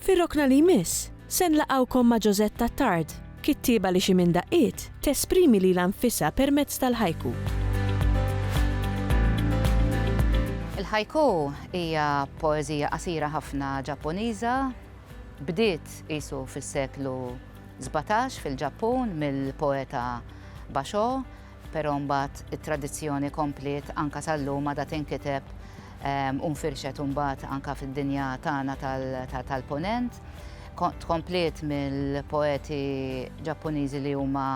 Fir-rokna li jmiss, se nlaqgħukom ma' Josette Attard, kittieba li xi minn daqqiet tesprimi lilha nfisha permezz tal-haiku. Il-haiku hija poeżija qasira ħafna Ġappuniża. Bdiet qisu fis-seklu sbatax fil-Ġappun mill-poeta Basho. Però mbagħad it-tradizzjoni kompliet anke sal-lum għadha tinkiteb u nfirxet imbagħad anke fid-dinja tagħna tal-Punent. Tkompliet mill-poeti Ġappuniżi li huma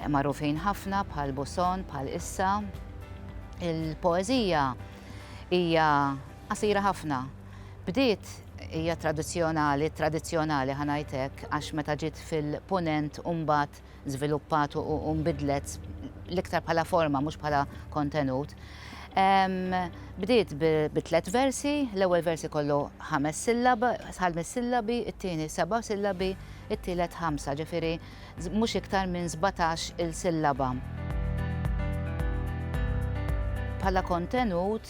magħrufin ħafna bħal Buson, bħal Issa. Il-poeżija hija qasira ħafna. Bdiet hija tradizzjonali, tradizzjonali ħa ngħid hekk, għax meta ġiet fil-Punent u mbagħad żviluppat u nbidlet l-iktar bħala forma mhux bħala kontenut. Bdiet bi tliet versi, l-ewwel versi kollu ħames sillab, ħames sillabi, it-tieni seba' sillabi, it-tielet ħamsa, ġifieri mhux iktar minn 17 il-sillaba. Bħala kontenut,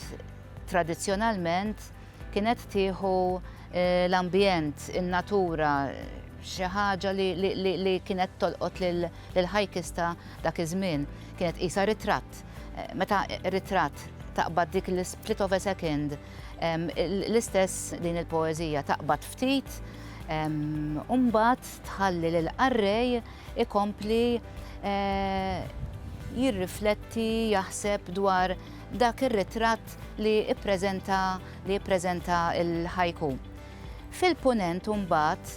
tradizzjonalment, Kienet tieħu l-ambjent, in-natura, xi ħaġa li kienet tolqot lill-hikers ta' dak iż-żmien. Kienet tqisha ritratt. Meta ritratt taqbad dik l-split of a second, l-istess din il-poeżija taqbad ftit u mbagħad tħalli lill-qarrej ikompli jirrifletti, jaħseb dwar, dak ir-ritratt li ppreżenta li jippreżenta l-ħajku. Fil-Punent imbagħad,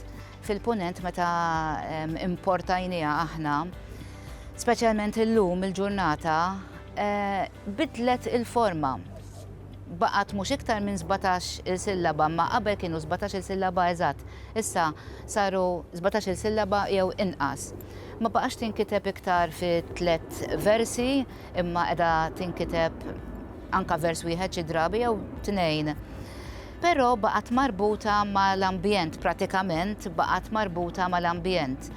fil-Punent meta importajniha aħna, speċjalment illum il-ġurnata, bidlet il-forma. Baqgħet mhux iktar minn 17 il-sillaba, imma qabel kienu 17 il-sillaba eżatt, issa saru 17 il-sillaba jew inqas. Ma baqgħetx tinkiteb iktar fi tliet versi, imma qiegħda tinkiteb anke vers wieħed xi drabi jew tnejn. Però baqgħet marbuta mal-ambjent, pratikament baqgħet marbuta mal-ambjent.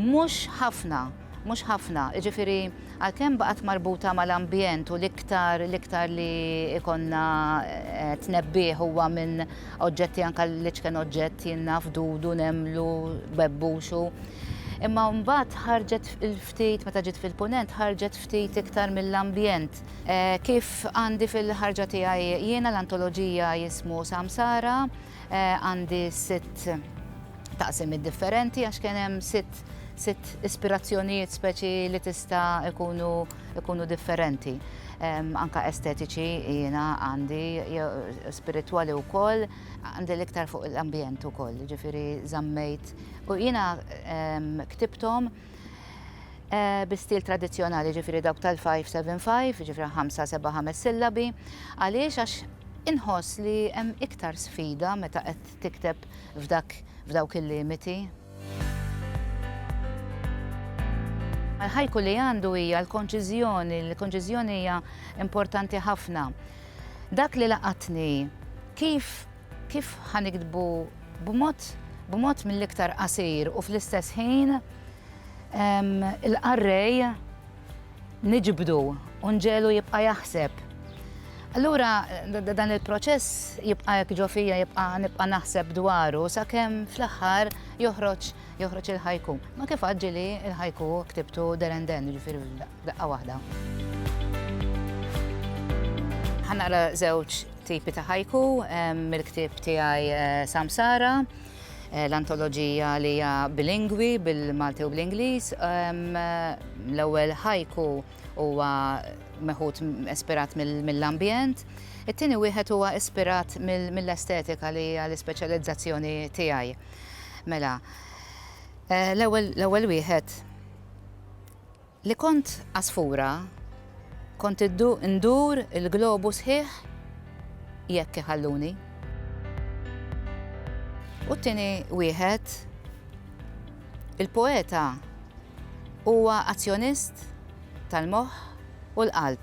Mhux ħafna, mhux ħafna, jiġifieri għalkemm baqgħet marbuta mal-ambjent u l-iktar l-iktar li ikonna eh, tnebbih huwa minn oġġetti anke li ċken oġġett jinnaf dudu, nemlu, bebbuxu. Imma mbagħad ħarġet Ftit, meta ġiet fil-Punent ħarġet ftit iktar mill-ambjent. Kif għandi fil-ħarġa tiegħi jiena l-antoloġija jismu Samsara, għandi sitt taqsimiet differenti għax kien hemm sitt sitt ispirazzjonijiet speċi li tista' ikunu ikunu differenti. Anke estetiċi jiena għandi, spiritwali wkoll, għandi l-iktar fuq l-ambjent ukoll, jiġifieri żammejt. U jiena ktibthom. bi stil tradizzjonali, ġifieri dawk tal-five seven five, ġifieri ħamsa seba' ħames sillabi. Għaliex? Għax inħoss li hemm iktar sfida meta qed tikteb f'dak f'dawk il-limiti. L-ħajku li għandu hija l-konċiżjoni, l-konċiżjoni hija importanti ħafna. Dak li laqatni kif Kif ħa niktbu b'mod b'mod mill-iktar qasir u fl-istess ħin il-qarrej niġbdu u nġegħlu jibqa' jaħseb. Allura dan il-proċess jibqa' hekk ġo fija jibqa' nibqa' naħseb dwaru sakemm fl-aħħar joħroġ joħroġ il-ħajku. Ma kif għaġġili il-ħajku ktibtu derenden, ġifieri Daqqa waħda. Ħa naqra żewġ tipi ta' ħajku mill-ktieb tiegħi Samsara, l-antoloġija li hija bilingwi bil-Malti u bl-Ingliż. L-ewwel ħajku huwa meħud ispirat mill-ambjent. It-tieni wieħed huwa ispirat mill-estetika li hija l-ispeċjalizzazzjoni tiegħi. Mela, l-ewwel wieħed Li kont għasfura kont indur il-globu sħiħ jekk iħalluni. U t-tieni wieħed, il-poeta huwa azzjonist tal-moħħ u l-qalb.